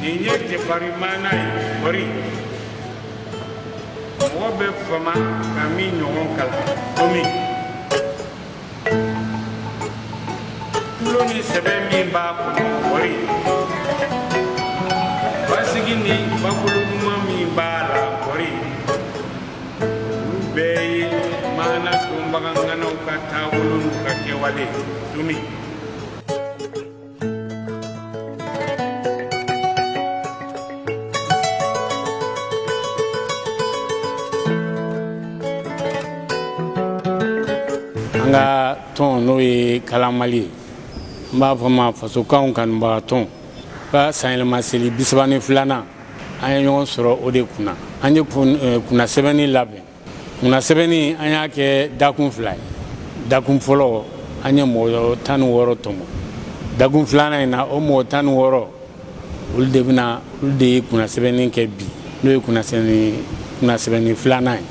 nin ye jɛfari maana ye kɔri mɔgɔ bɛ fama ka min ɲɔgɔn kalan komi tulon ni sɛbɛ min b'a kɔnɔ kɔri basigi ni bakolo ɲuman min b'a la kɔri olu bɛɛ ye maana dɔnbagaŋanaw ka taabolo n'u ka kɛwale dumi An ka tɔn n'o ye kalan mali ye n b'a fɔ a ma fasokan kanubaga tɔn ka sanyɛlɛma seli bi saba ni filanan an ye ɲɔgɔn sɔrɔ o de kunna an ye kunnasɛbɛnni labɛn kunnasɛbɛnni an y'a kɛ dakun fila ye dakun fɔlɔ an ye mɔgɔ tan ni wɔɔrɔ tɔmɔ dakun filanan in na o mɔgɔ tan ni wɔɔrɔ olu de bɛna olu de ye kunnasɛbɛnni kɛ bi n'o ye kunnasɛbɛnni kunnasɛbɛnni filanan ye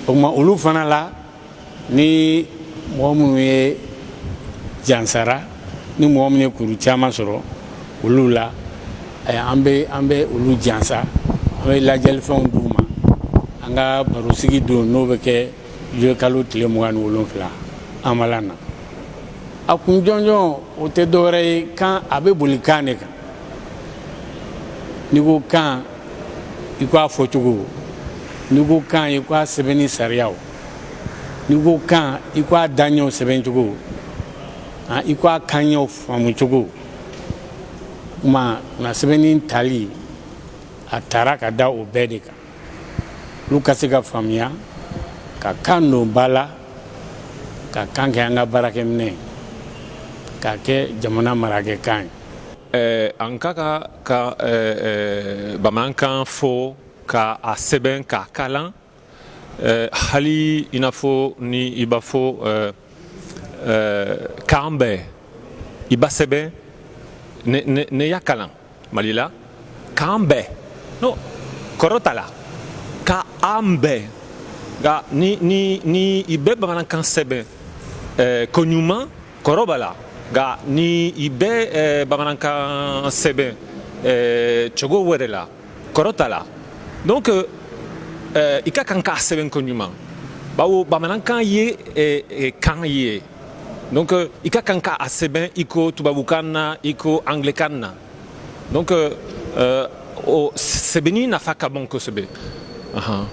o tuma olu fana la ni mɔgɔ minnu ye jansara ni mɔgɔ minnu ye kuru caman sɔrɔ olu la an bɛ an bɛ olu jansa an bɛ ladiyalifɛnw d'u ma an ka barosigi don n'o bɛ kɛ zuluyekalo tile mugan ni wolonwula an ma na a kun jɔnjɔn o tɛ dɔwɛrɛ ye kan a bɛ boli kan de kan n'i ko kan i k'a fɔcogo n'i ko kan i k'a sɛbɛnni sariya n'i ko kan i ko a daɲɛw sɛbɛn cogo i ko a kanɲɛw faamu cogo kuma na sɛbɛnni tali a taara ka da o bɛɛ de kan olu ka se ka faamuya ka kan don ba la ka kan kɛ an ka baarakɛminɛn k'a kɛ jamana marakɛkan ye eh, an ka ka ka eh, eh, bamanankan fɔ ka a sɛbɛn k'a kalan Eh, hali i n'a fɔ ni i b'a fɔ eh, eh, k'an bɛn i b'a sɛbɛn ne, ne, ne y'a kalan mali la k'an bɛn no kɔrɔ t'a la ka an bɛn nka ni, ni, ni i bɛ bamanankan sɛbɛn eh, koɲuman kɔrɔ b'a la nka ni i bɛ eh, bamanankan sɛbɛn eh, cogo wɛrɛ la kɔrɔ t'a la donc euh, euh, i ka kan k'a sɛbɛn koɲuman bawo bamanankan ye eh, eh, kan ye donc euh, i ka kan k'a sɛbɛn i ko tubabukan na i ko angilɛkan na donc euh, euh, o sɛbɛnni nafa ka bon kosɛbɛ uh-huh.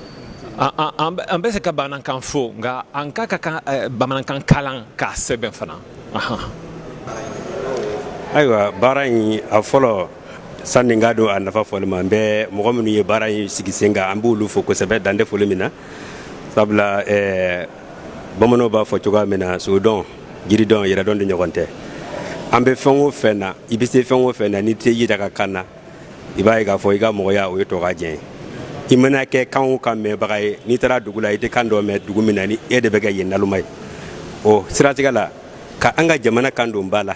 an bɛ se ka bamanankan fɔ nka an ka kan ka eh, bamanankan kalan k'a sɛbɛn fana uh-huh. ayiwa baara in a fɔlɔ sani n ka don a nafa fɔli ma n bɛ mɔgɔ minnu ye baara in sigi sen kan an b'olu fo kosɛbɛ dan tɛ foli min na sabula eh, bamananw b'a fɔ cogoya min na sodɔn jiridɔn yɛrɛdɔn ɲɔgɔn tɛ an bɛ fɛn o fɛn na i bɛ se fɛn o fɛn na n'i tɛ i yɛrɛ ka kan na i b'a ye k'a fɔ i ka mɔgɔya o ye tɔgɔ diɲɛ ye i mana kɛ kan o kan mɛnbaga ye n'i taara dugu la i tɛ kan dɔ mɛn dugu min na ni e de bɛ kɛ yen naloma ye o siratigɛ la ka an ka jamana kan dɔn ba la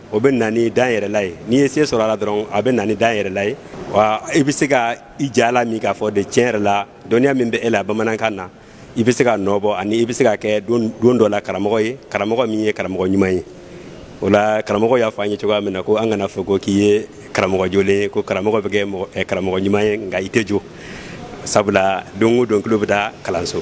o bɛ na ni danyɛrɛla ye n'i ye se sɔrɔ a la dɔrɔn a bɛ na ni danyɛrɛla ye wa i bɛ se ka i ja la min k'a fɔ de tiɲɛ yɛrɛ la dɔnniya min bɛ e la bamanankan na i bɛ se ka nɔ bɔ ani i bɛ se ka kɛ don dɔ la karamɔgɔ ye karamɔgɔ min ye karamɔgɔ ɲuman ye o la karamɔgɔ y'a fɔ an ye cogoya min na ko an kan'a fɔ ko k'i ye karamɔgɔ jolen ye ko karamɔgɔ bɛ kɛ mɔgɔ- eh, karamɔgɔ ɲuman ye nka i tɛ jo sabula don o don tulo bɛ taa kalanso